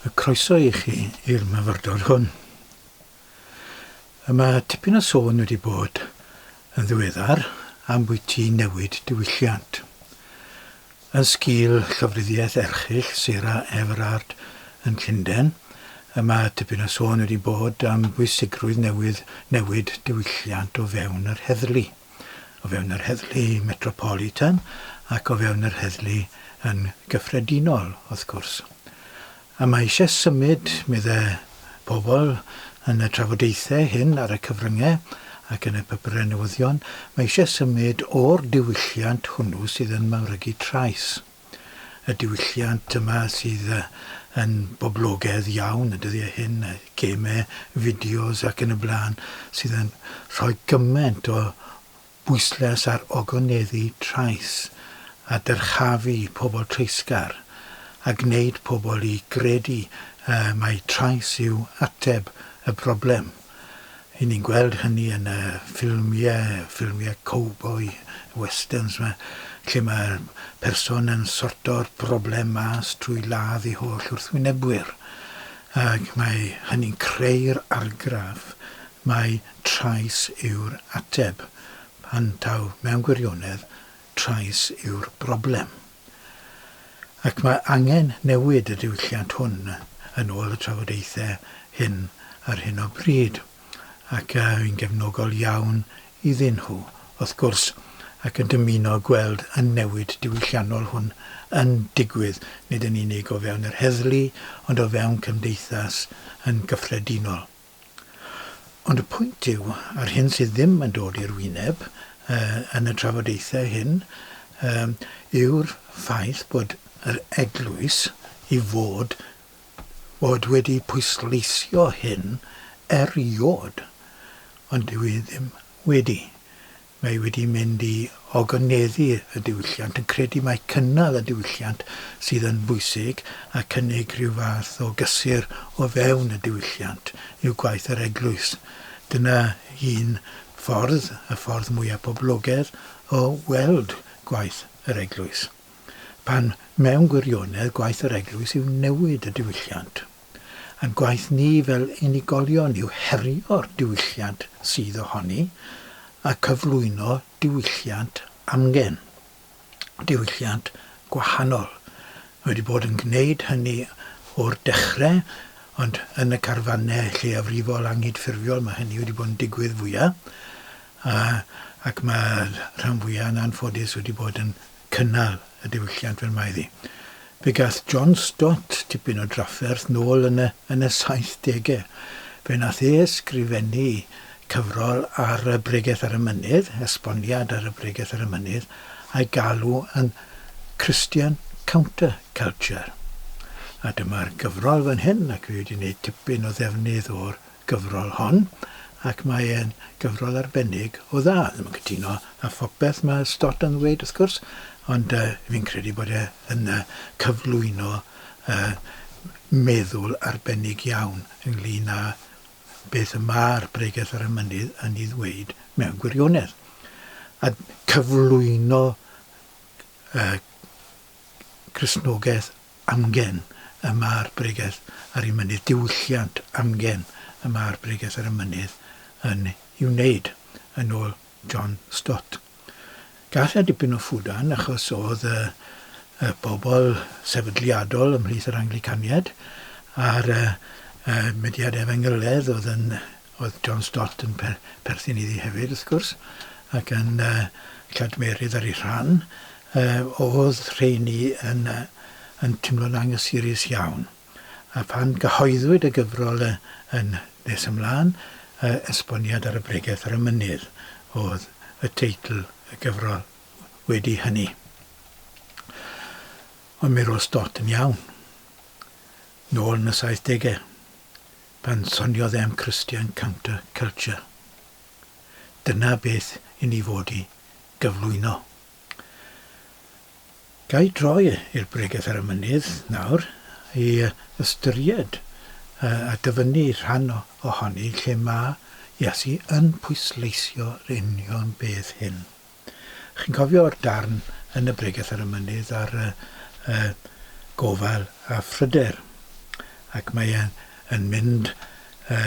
A chroeso i chi i'r myfyrdod hwn. Y mae tipyn o sôn wedi bod yn ddiweddar am bwyty newid diwylliant. Yn sgil llofruddiaeth erchyll Sarah Everard yn Llundain, y mae tipyn o sôn wedi bod am bwysigrwydd newydd newid diwylliant o fewn yr heddlu. o fewn yr heddlu metropolitan ac o fewn yr heddlu yn gyffredinol, wrth gwrs. A mae eisiau symud, medde pobl yn y trafodaethau hyn ar y cyfryngau ac yn y papurau newyddion, mae eisiau symud o'r diwylliant hwnnw sydd yn mawrygu trais. y diwylliant yma sydd yn boblogedd iawn y dyddiau hyn, gemau, fideos ac yn y blaen, sydd yn rhoi gymaint o bwyslais ar ogoneddu trais a dyrchafu pobl treisgar a gwneud pobl i gredu mai trais yw ateb y broblem. Ry'n ni'n gweld hynny yn y ffilmiau, ffilmiau cowboi, westerns 'ma, lle mae'r person yn sorto'r broblem mas trwy ladd ei holl wrthwynebwyr. Ac mae hynny'n creu'r argraff mai trais yw'r ateb, pan taw mewn gwirionedd trais yw'r broblem. ac mae angen newid y diwylliant hwn yn ôl y trafodaethau hyn ar hyn o bryd, ac yn gefnogol iawn iddyn nhw, wrth gwrs, ac yn dymuno gweld y newid diwylliannol hwn yn digwydd, nid yn unig o fewn yr heddlu, ond o fewn cymdeithas yn gyffredinol. Ond y pwynt yw, a'r hyn sydd ddim yn dod i'r wyneb yn y trafodaethau hyn, yw'r ffaith bod yr eglwys i fod fod wedi pwysleisio hyn erioed, ond dyw e ddim wedi. Mae wedi mynd i ogonedddu y diwylliant, yn credu mai cynnal y diwylliant sydd yn bwysig a cynnig rhyw fath o gysur o fewn y diwylliant yw gwaith yr eglwys. Dyna un ffordd, y ffordd mwyaf poblogedd, o weld gwaith yr eglwys. Pan mewn gwirionedd gwaith yr eglwys yw newid y diwylliant. Ein gwaith ni fel unigolion yw herio'r diwylliant sydd ohoni a cyflwyno diwylliant amgen, diwylliant gwahanol. Mae wedi bod yn gwneud hynny o'r dechrau, ond yn y carfannau lleiafrifol anghydffurfiol mae hynny wedi bod yn digwydd fwyaf. A, ac mae'r rhan fwyaf yn anffodus wedi bod yn cynnal y diwylliant fel mae iddi. Fe gath John Stott tipyn o drafferth nôl yn y yn y saithdegau. Fe nath e ysgrifennu cyfrol ar y Bregeth ar y Mynydd, esboniad ar y Bregeth ar y Mynydd, a'i galw yn Christian Counter-Culture. A dyma'r gyfrol fan hyn, ac fe wedi wneud tipyn o ddefnydd o'r gyfrol hon ac mae e'n gyfrol arbennig o dda. Ddim yn cytuno â phopeth ma' Stott yn ddweud wrth gwrs ond yy fi'n credu bod e yn yy cyflwyno yy meddwl arbennig iawn ynglŷn â beth y ma'r Bregeth ar y Mynydd yn 'i ddweud mewn gwirionedd. A cyflwyno yy Cristnogeth amgen y mae'r bregeth ar ei mynydd, diwylliant amgen y mae'r bregeth ar y mynydd yn ei wneud, yn ôl John Stott. Gall a dipyn o ffwdan, achos oedd y y bobl sefydliadol ymhlith yr Anglicaniaid a'r y y mudiad efengylaidd oedd yn Oedd John Stott yn perthyn iddi hefyd, wrth gwrs, ac yn cadmerydd ar ei rhan, oedd rheiny yn timlo'n angysurus iawn. A phan gyhoeddwyd y gyfrol yn nes ymlaen, Esboniad ar y Bregeth ar y Mynydd oedd y teitl y gyfrol wedi hynny. Ond mi roedd Stott yn iawn, nôl yn y saithdegau. Pan soniodd em Christian Counter Culture, dyna beth i ni fod i gyflwyno. Ga i droi i'r bregeth ar y mynydd nawr i ystyried a dyfynnu rhan ohoni lle mae Iesu yn pwysleisio yr union beth hyn. Chi'n cofio'r darn yn y bregeth ar y mynydd ar y, y gofal a phryder? Ac mae e'n yn mynd y,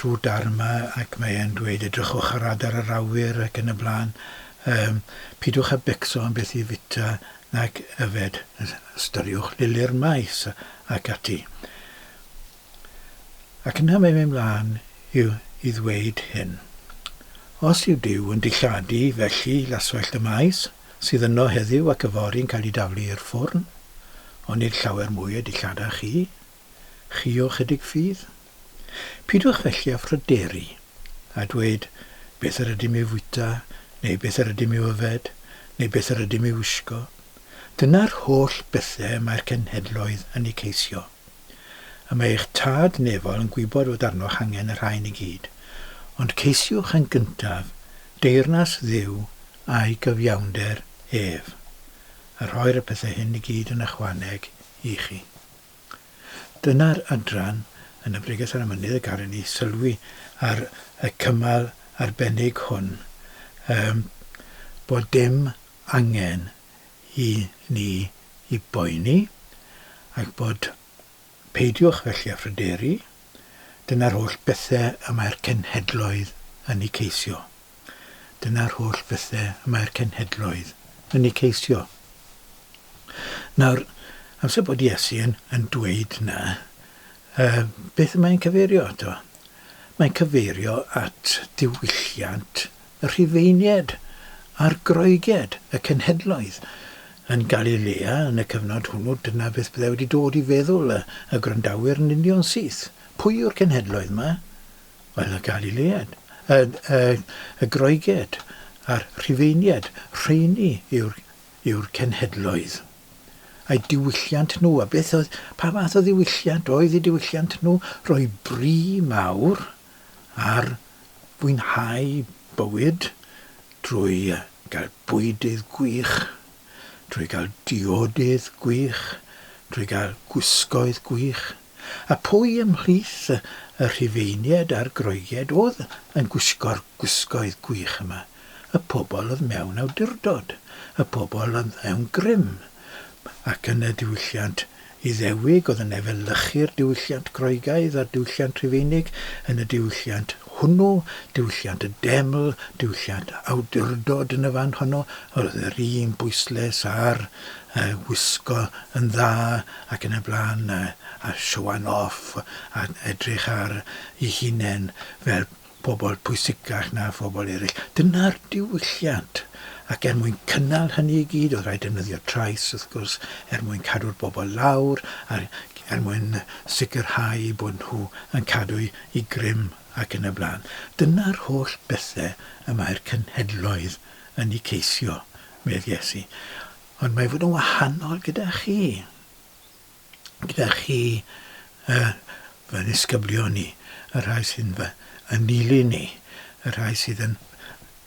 trwy'r darn yma ac mae e'n dweud edrychwch ar adar yr awyr ac yn y blaen. Um, pidwch a becso am beth i fita nac yfed, ystyriwch lili'r maes ac ati. Ac yna mae'n mynd mlaen i ddweud hyn, Os yw Duw yn dilladu, felly laswellt y maes sydd yno heddiw ac yfory'n cael ei daflu i'r ffwrn, ond nid llawer mwy a dillada chi, chi o chydig ffydd. Pidwch felly â phryderu, a dweud, Beth yr ydym i'w fwyta, neu beth yr ydym i'w yfed, neu beth yr ydym i'w wisgo? Dyna'r holl bethau y mae'r cenhedloedd yn eu ceisio. y mae eich tad nefol yn gwybod fod arnoch angen y rhain i gyd, ond ceisiwch yn gyntaf deyrnas Dduw a'i gyfiawnder ef, a rhoi'r y pethau hyn i gyd yn ychwaneg i chi. Dyna'r adran yn y Bregeth ar y Mynydd y gallwn ni sylwi ar y cymal arbennig hwn, ym bod dim angen i ni i boeni ac bod peidiwch felly â phryderu, dyna'r holl bethe y mae'r cenhedloedd yn eu ceisio. Dyna'r holl bethe y mae'r cenhedloedd yn eu ceisio. Nawr, amser bod Iesu yn, yn dweud na, uh, beth y mae'n cyfeirio ato? Mae'n cyfeirio at diwylliant y Rhufeiniaid a'r Groegiaid, y Cenhedloedd, yn Galilea yn y cyfnod hwnnw, dyna beth byddai wedi dod i feddwl y, y gwrandawyr yn union syth. Pwy yw'r Cenhedloedd 'ma? Wel, y Galileaid, y, y, y Groegiaid a'r Rhufeiniaid, rheini yw'r, yw'r Cenhedloedd. A'i diwylliant nhw, a beth oedd, pa fath o ddiwylliant oedd eu diwylliant nhw? Rhoi bri mawr ar fwynhau bywyd drwy gael bwydydd gwych, drwy gael diodydd gwych, drwy gael gwisgoedd gwych, a phwy ymhlith y Rhufeiniaid a'r Groegiaid oedd yn gwisgo'r gwisgoedd gwych yma? Y pobl oedd mewn awdurdod, y pobl oedd mewn grym, ac yn y diwylliant Iddewig oedd yn efelychu'r diwylliant Groegaidd a'r diwylliant Rhufeinig, yn y diwylliant hwnnw, diwylliant y deml, diwylliant awdurdod yn y fan honno, yr oedd yr un bwyslais ar y wisgo yn dda ac yn y blaen, a showing off, a edrych ar ei hunain fel pobl pwysicach na phobl eraill. Dyna'r diwylliant. Ac er mwyn cynnal hynny i gyd, oedd rhaid defnyddio trais, wrth gwrs, er mwyn cadw'r bobl lawr a er mwyn sicrhau eu bod nhw yn cadw'u i grym ac yn y blaen. Dyna'r holl bethau y mae'r cenhedloedd yn eu ceisio, medd Iesu. Ond mae fod yn wahanol gyda chi. gyda chi, y, fy nisgyblion i, y rhai sy'n fy ynilyn i, y rhai sydd yn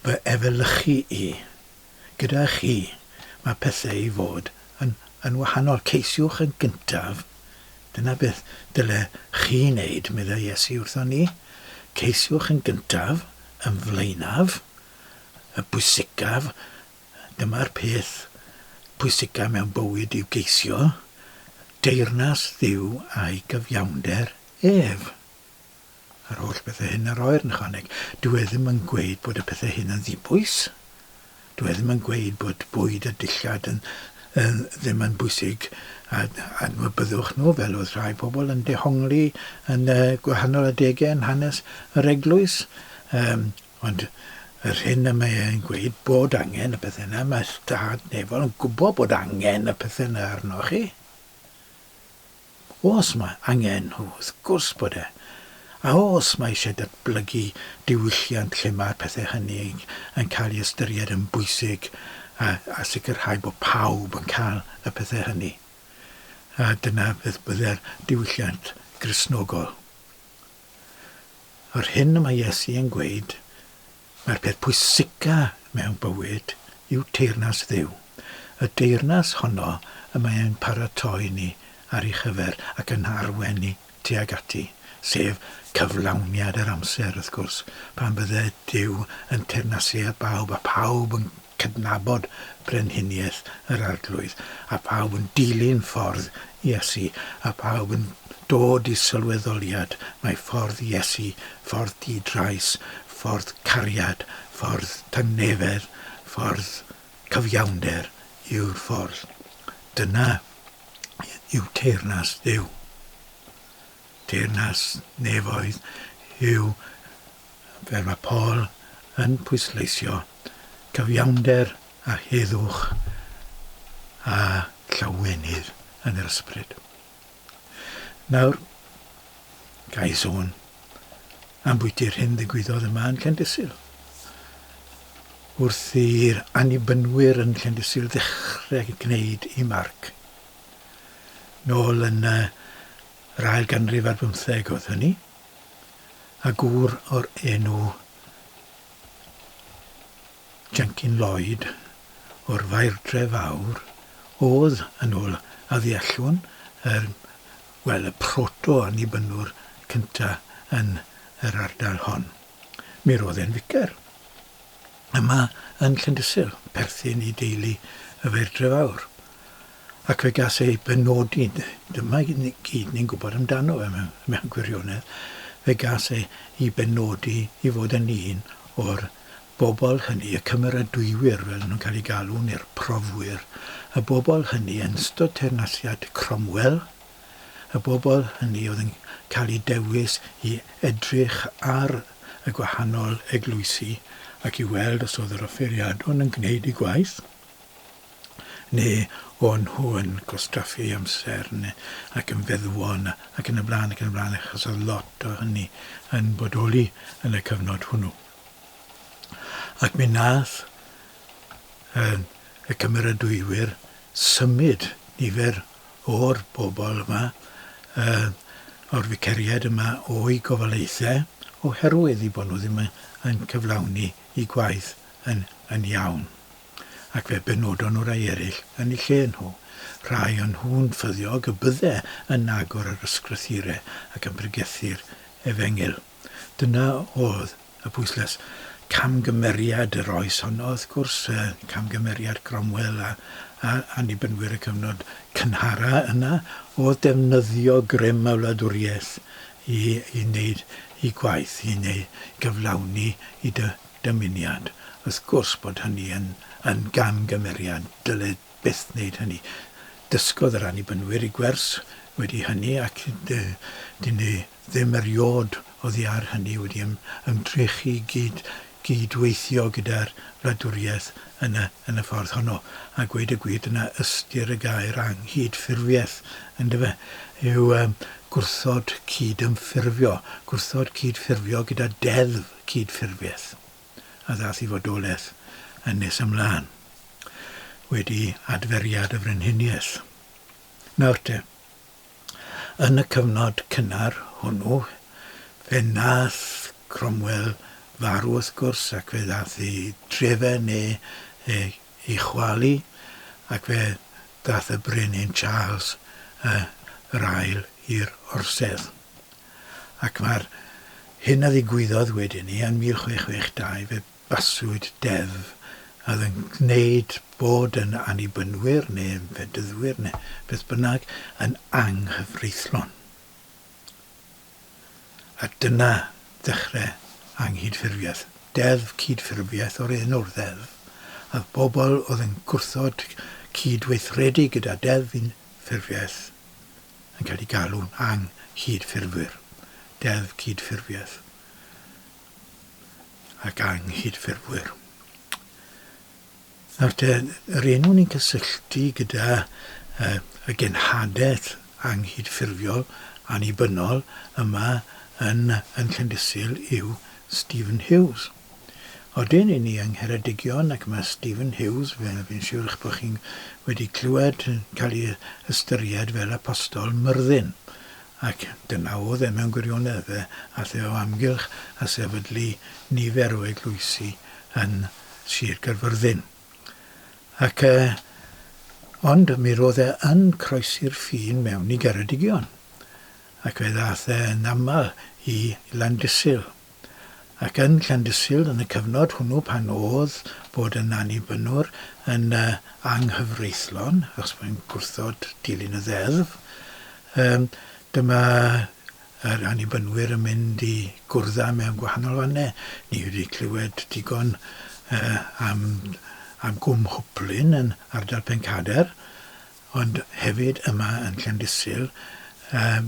fy efelychu i. Gyda chi, mae pethau i fod yn, yn wahanol. Ceisiwch yn gyntaf. Dyna beth dyle chi wneud, meddai Iesu wrthon ni. Ceisiwch yn gyntaf, yn flaenaf, y bwysicaf, Dyma'r peth pwysica mewn bywyd yw geisio deyrnas Dduw a'i gyfiawnder ef. A'r holl bethau hyn yr oer yn ychwaneg. Dyw e ddim yn gweud bod y pethau hyn yn ddibwys. Dyw e ddim yn gweud bod bwyd a dillad yn, yn, ddim yn bwysig a adnabyddwch nhw fel oedd rhai pobl yn dehongli yn y gwahanol adegau yn hanes yr eglwys. Um, Ond yr hyn y mae e'n gweud bod angen y pethau yna, mae Stad Nefol yn gwybod bod angen y pethau yna arnoch chi. Os mae angen nhw, wrth gwrs bod e. A os mae eisiau datblygu diwylliant lle mae'r pethau hynny yn cael ei ystyried yn bwysig a, a sicrhau bod pawb yn cael y pethau hynny. A dyna beth byddai'r diwylliant Gristnogol. Yr hyn y mae Iesu yn gweud, mae'r peth pwysica mewn bywyd yw teyrnas Dduw. Y deyrnas honno y mae e'n paratoi ni ar ei chyfer ac yn arwen ni tuag ati, sef cyflawniad yr amser, wrth gwrs, pan fydde Duw yn teyrnasu ar bawb a phawb yn cydnabod brenhiniaeth yr Arglwydd, a phawb yn dilyn ffordd Iesu, a phawb yn dod i sylweddoliad mai ffordd Iesu, ffordd di-drais, ffordd cariad, ffordd tangnefedd, ffordd cyfiawnder yw'r ffordd. Dyna yw teyrnas Dduw. Teyrnas nefoedd yw Fel mae Paul yn pwysleisio, cyfiawnder a heddwch a llawenydd yn yr ysbryd. Nawr, ga i sôn ambwyti'r hyn ddigwyddodd yma yn Llendysul. Wrth i'r annibynwyr yn Llendysul ddechrau gwneud i marc. Nôl yn yr ail ganrif ar bymtheg oedd hynny. a gŵr o'r enw Jenkin Lloyd o'r Fairdre Fawr oedd, yn ôl a ddeallwn, yr, wel, y proto-Annibynwr cyntaf yn yr ardal hon. Mi roedd e'n ficer yma yn Llandysul, perthyn i deulu y Fairdre Fawr. Ac fe gas ei benodi, dyma i gyd ni'n gwybod amdano fe mewn gwirionedd, fe gas ei benodi i fod yn un o'r bobl hynny, y cymeradwywyr fel nhw'n cael eu galw, neu'r profwyr, y bobl hynny yn ystod teyrnasiad Cromwell, y bobl hynny oedd yn cael eu dewis i edrych ar y gwahanol eglwysi ac i weld os oedd yr offeiriadon yn gwneud eu gwaith. neu o'n nhw yn gwastraffu amser neu ac yn feddwol yna ac yn y blaen ac yn y blaen achos oedd lot o hynny yn bodoli yn y cyfnod hwnnw. Ac mi nath yn y cymeradwywyr symud nifer o'r bobl yma uh, o'r ficeriaid yma o'i gofalaethau oherwydd i bod nhw ddim yn cyflawni i gwaith yn, yn iawn. ac fe benodon nhw rai eraill yn eu lle nhw, rhai o nhw'n ffyddiog y bydde yn agor yr ysgrythyre ac yn pregethu'r efengyl. Dyna oedd y pwyslais. Camgymeriad yr oes honno, wrth gwrs, camgymeriad Cromwell a Annibynwyr y cyfnod cynhara yna, oedd defnyddio grym y wladwriaeth i wneud eu gwaith, i gyflawni eu dymuniad. Wrth gwrs bod hynny yn yn gamgymeriad, dyle byth wneud hynny. Dysgodd yr Annibynwyr i gwers wedi hynny ac dyn nhw ddim eriôd oddi ar hynny wedi ym, ymdrechu i gyd, gyd-weithio gyda'r wladwriaeth yn y, yn y ffordd honno. A gweud y gwir, dyna ystyr y gair anghydffurfiaeth, yndyfe, yw gwrthod cyd-ymffurfio, gwrthod cyd-ffurfio gyda deddf. cydffurfiaeth a ddaeth i fodolaeth yn nes ymlaen, wedi adferiad y Frenhiniaeth. Nawr te, yn y cyfnod cynnar hwnnw, fe wnaeth Cromwell farw wrth gwrs, ac fe ddaeth i drefe neu i chwalu, ac fe ddaeth y Brenin Charles yr Ail i'r orsedd. ac mae'r hyn a ddigwyddodd wedyn 'ny yn 1662, fe baswyd deddf a oedd yn gwneud bod yn Annibynwyr, neu Fedyddwyr, neu beth bynnag, yn anghyfreithlon. A dyna ddechrau anghydffurfiaeth. Deddf cydffurfiaeth o'r enw'r ddeddf, a oedd pobl oedd yn gwrthod cyd-weithredu gyda deddf unffurfiaeth yn cael eu galw'n ang-hyd-ffurfwyr, Deddf Cyd-ffurfiaeth ac Anghyd-ffurfwyr. Nawr te, yr enw ni'n cysylltu gyda uh, y genhadaeth anghyd-ffurfiol annibynnol yma yn, yn Llandysul yw Stephen Hughes. Odyn i ni yng Ngheredigion ac mae Stephen Hughes, fel fi'n siwr eich bod chi'n wedi clywed, yn cael ei ystyried fel apostol Myrddin. Ac dyna oedd e mewn gwirionedd, fe ath e o amgylch a sefydlu nifer o eglwysi yn Sir Gaerfyrddin. Ac yy ond mi roedd e yn croesi'r ffin mewn i Geredigion ac fe ddath e yn aml i Landysul. ac yn Llandysul yn y cyfnod hwnnw pan o'dd bod yn Annibynwr yn anghyfreithlon achos mae'n gwrthod dilyn y Ddeddf. Yym dyma yr Annibynwyr yn mynd i gwrdda mewn gwahanol fanne. Ni wedi clywed digon yy am am Gwm Hwplyn yn ardal Pencadr ond hefyd yma yn Llandysul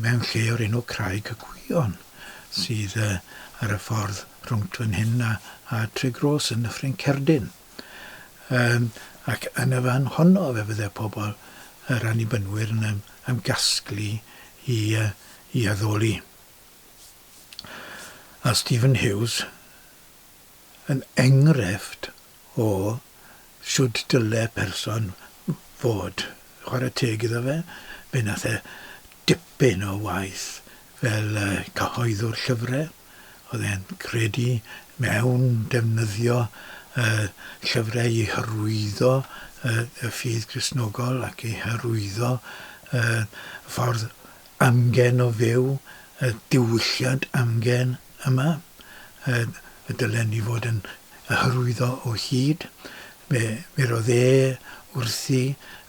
mewn lle o'r enw Craig y Gwion sydd ar y ffordd rhwng fan hyn a Tregroes yn Nyffryn Cerdyn ac yn y fan honno fe fydde pobl yr Annibynwyr yn ymgasglu i addoli a Stephen Hughes yn engrefft o shwt dyle person fod. Chwarae teg iddo fe, fe wnaeth e dipyn o waith fel cyhoeddwr llyfrau. Oedd e'n credu mewn defnyddio llyfrau i hyrwyddo y ffydd Gristnogol ac i hyrwyddo y ffordd Amgen o fyw, y diwylliant amgen yma, y dylen ni fod yn y hyrwyddo o hyd. Fe furodd e wrthi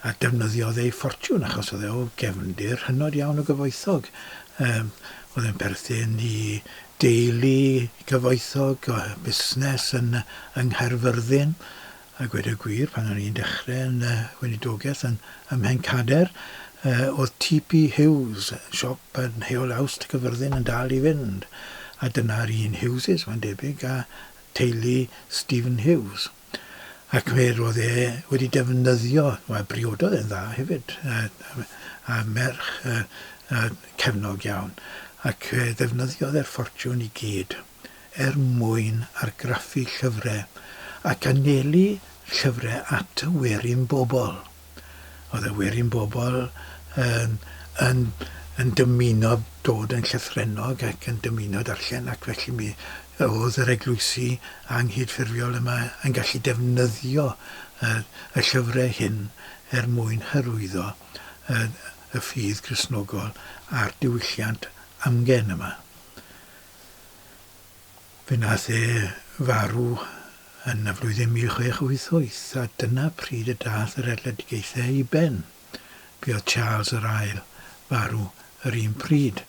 a defnyddiodd ei ffortiwn achos oedd e o gefndir hynod iawn o gyfoethog. Yym, oedd e'n perthyn i deulu cyfoethog, busnes yn yng Nghaerfyrddin. A gweud y gwir, pan o'n i'n dechrau yn y weinidogaeth yn ym Mhencader, oedd TP Hughes, siop yn Heol Awst, Cyfyrddin, yn dal i fynd, a dyna'r un Hughes, mae'n debyg, a teulu Stephen Hughes. Ac fe roedd e wedi defnyddio, wel, briododd e'n dda hefyd, a merch cefnog iawn, ac fe ddefnyddiodd e'r ffortiwn i gyd. er mwyn argraffu llyfrau ac anelu llyfrau at werin bobl. Oedd y werin bobl yn yn yn dymuno dod yn llythrennog ac yn dymuno darllen ac felly mi oedd yr eglwysi anghydffurfiol yma yn gallu defnyddio y y llyfrau hyn er mwyn hyrwyddo y y ffydd Gristnogol a'r diwylliant amgen yma. Fe wnaeth e farw yn y flwyddyn 1688 a dyna pryd y daeth yr erledigaethau i ben. Buodd Charles yr Ail farw yr un pryd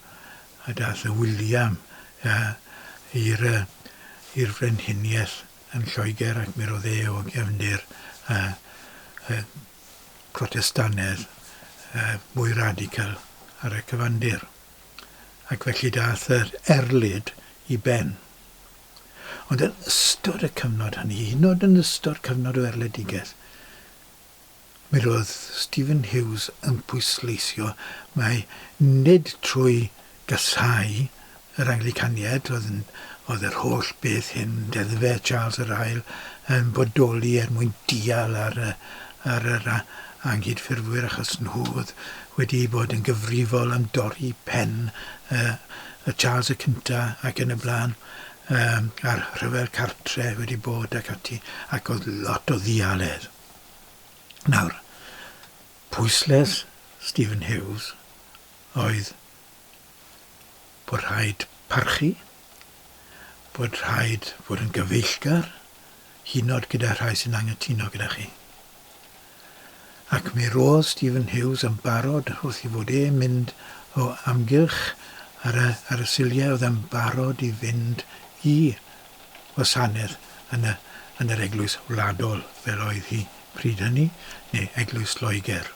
a daeth y William i'r i'r frenhiniaeth yn Lloegr ac mi roedd e o gefndir y y Protestannedd y mwy radical ar y cyfandir. ac felly daeth yr erlid i ben. Ond yn ystod y cyfnod hynny, hyd yn oed yn ystod cyfnod o erledigaeth, mi roedd Stephen Hughes yn pwysleisio mai nid trwy gasáu yr Anglicaniaid oedd, yn, oedd yr holl beth hyn, deddfe Charles yr Ail, yn bodoli er mwyn dial ar, ar yr anghydffurfwyr achos nhw oedd wedi bod yn gyfrifol am dorri pen y Charles y Cyntaf ac yn y blaen a'r rhyfel cartre wedi bod ac ati ac oedd lot o ddialedd. Nawr, pwysles Stephen Hughes oedd bod rhaid parchu, bod rhaid fod yn gyfeillgar, hyd yn oed gyda rhai sy'n anghytuno gyda chi. Ac mi roedd Stephen Hughes yn barod wrth i fod e'n mynd o amgylch ar y, ar y siliau oedd e'n barod i fynd i wasanaeth yn y, yn yr eglwys wladol fel oedd hi pryd hynny, neu eglwys Loegr.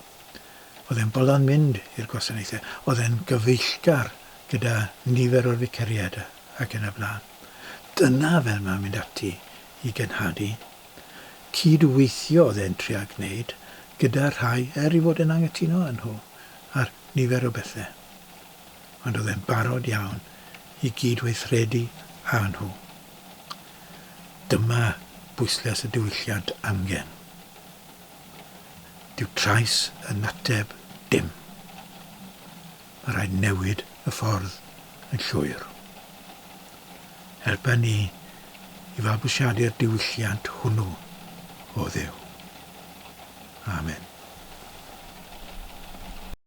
Oedd e'n bolon mynd i'r gwasanaethau, oedd e'n gyfeillgar gyda nifer o'r ficariaid ac yn y blaen. Dyna fel mae'n mynd ati i genhadu. Cyd-weithio oedd e'n trial gwneud gyda'r rhai er ei fod e'n anghytuno â nhw ar nifer o bethau. Ond oedd e'n barod iawn i gyd-weithredu â nhw. Dyma bwyslais y diwylliant angen. Dyw trais yn ateb dim. Mae rhaid newid y ffordd yn llwyr. Helpa ni i fabwysiadu'r diwylliant hwnnw, o Dduw. Amen.